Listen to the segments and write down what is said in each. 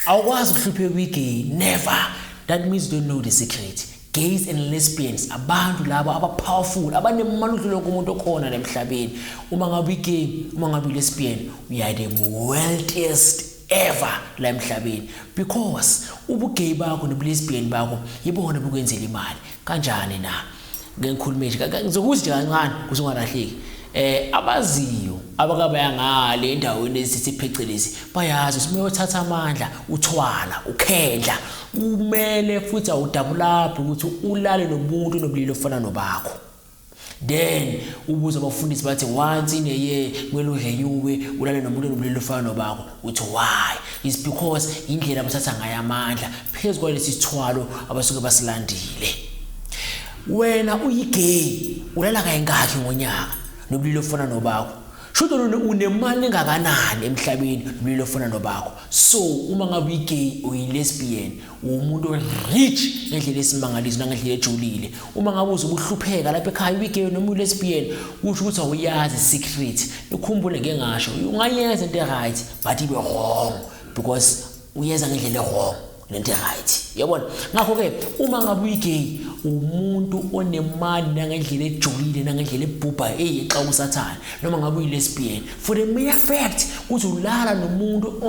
Awukwazi ukuhlupheka kwi-gay, never. That means you don't know the secret. Gays and lesbians abantu labo aba-powerful abanemali udlula wonke umuntu okhona la emhlabeni. Uma ngabe uyi-gay, uma ngabe uyi-lesbian, you are the wealthiest ever la emhlabeni because ubugay bakho nobulesbian bakho yibona bukwenzela imali kanjani na ngeke ngikhulume nje ngizokuza nje kancane kuze ungalahleki eh abaziyo abakabaya ngale endaweni esithi phecelezi bayazi usume uthatha amandla uthwala ukhendla kumele futhi awudabulaphi ukuthi ulale nomuntu nobulili ofana nobakho then ubuze abafundisi bathi once in a year kumele udle nyube ulale nomuntu nobulili ofana nobakho uthi why is because indlela abuthatha ngayo amandla phezu kwalesi sithwalo abasuke basilandile wena uyigay ulala kayingakhi ngonyaka nobulilo ofana nobakho shudo lona unemali engakanani emhlabeni nobulilo ofana nobakho so uma ngabe uyigay uyilesbian uwumuntu rich ngendlela esimangaliso nangendlela ejulile uma ngabe uzokuhlupheka lapha ekhaya uyigeyo noma ulesbian kusho ukuthi awuyazi secret ikhumbule ngeke ngasho ungayenza into right but ibe wrong because uyenza ngendlela wrong lento right yabona ngakho ke uma ngabe uyigay umuntu onemali nangendlela ejulile nangendlela ebhubha eyi xa usathana noma ngabe uyilesbian for the mere fact ukuthi ulala nomuntu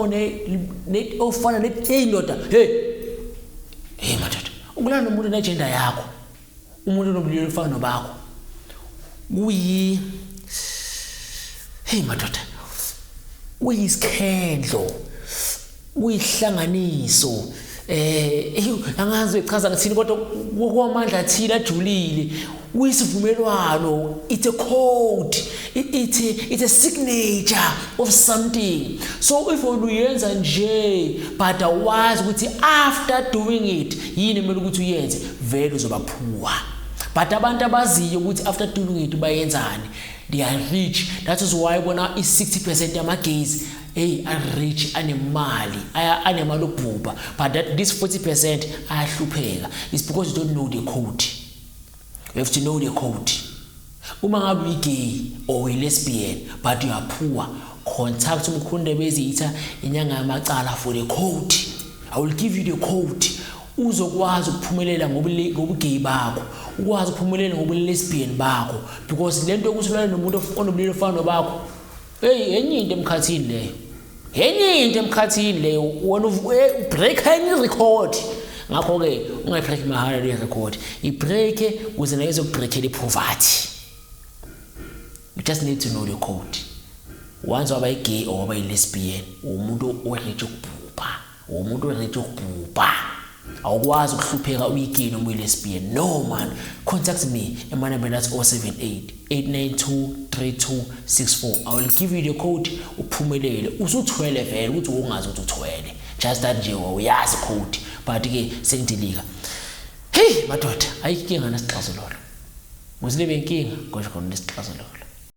ofana neyi ndoda hey hey madoda ukulala nomuntu nejenda yakho umuntu onobulili ofana nobakho kuyi hey madoda kuyisikhendlo kuyihlanganiso eh angazi echaza ngithini kodwa kokwamandla athile ajulile kuyisivumelwano it's a code it's a, it's a signature of something so if uyenza nje but awazi ukuthi after doing it yini kumele ukuthi uyenze vele uzoba phuwa but abantu abaziyo ukuthi after doing it bayenzani they are rich that is why bona i-60 percent yamagaze eyi arich anemali anemali ubhubha but that this 40 percent ayahlupheka is because you don't know the code you have to know the code uma ngabe uyigay or uyilesbian but you are poor contact umkhunde bezitha inyanga yamacala for the code i will give you the code uzokwazi ukuphumelela ngobugeyi bakho ukwazi ukuphumelela ngobulesbian bakho because lento yokuthi ulale nomuntu onobulili ofana nobakho Hey enye into emkhathini leyo. Enye into emkhathini leyo wena ubreak eh, enye record. Ngakho ke ungayibreak mahara le record. Ibreak ukuze nayo izokubreakela ipoverty. You just need to know your code. Once waba igay or waba ilesbian umuntu orich ukubhubha. Uwumuntu oready ukubhubha. Awukwazi ukuhlupheka uyigay noma uyi-lesbian. No man, contact me emanambeni athi 078 892 3264. I will give you the code uphumelele. Usuthwele vele ukuthi wongazi ukuthi uthwele. Just that nje wawuyazi code but ke sengidilika. Hey madoda, ayikho inkinga nesixazululo. Musile benkinga kodwa khona nesixazululo.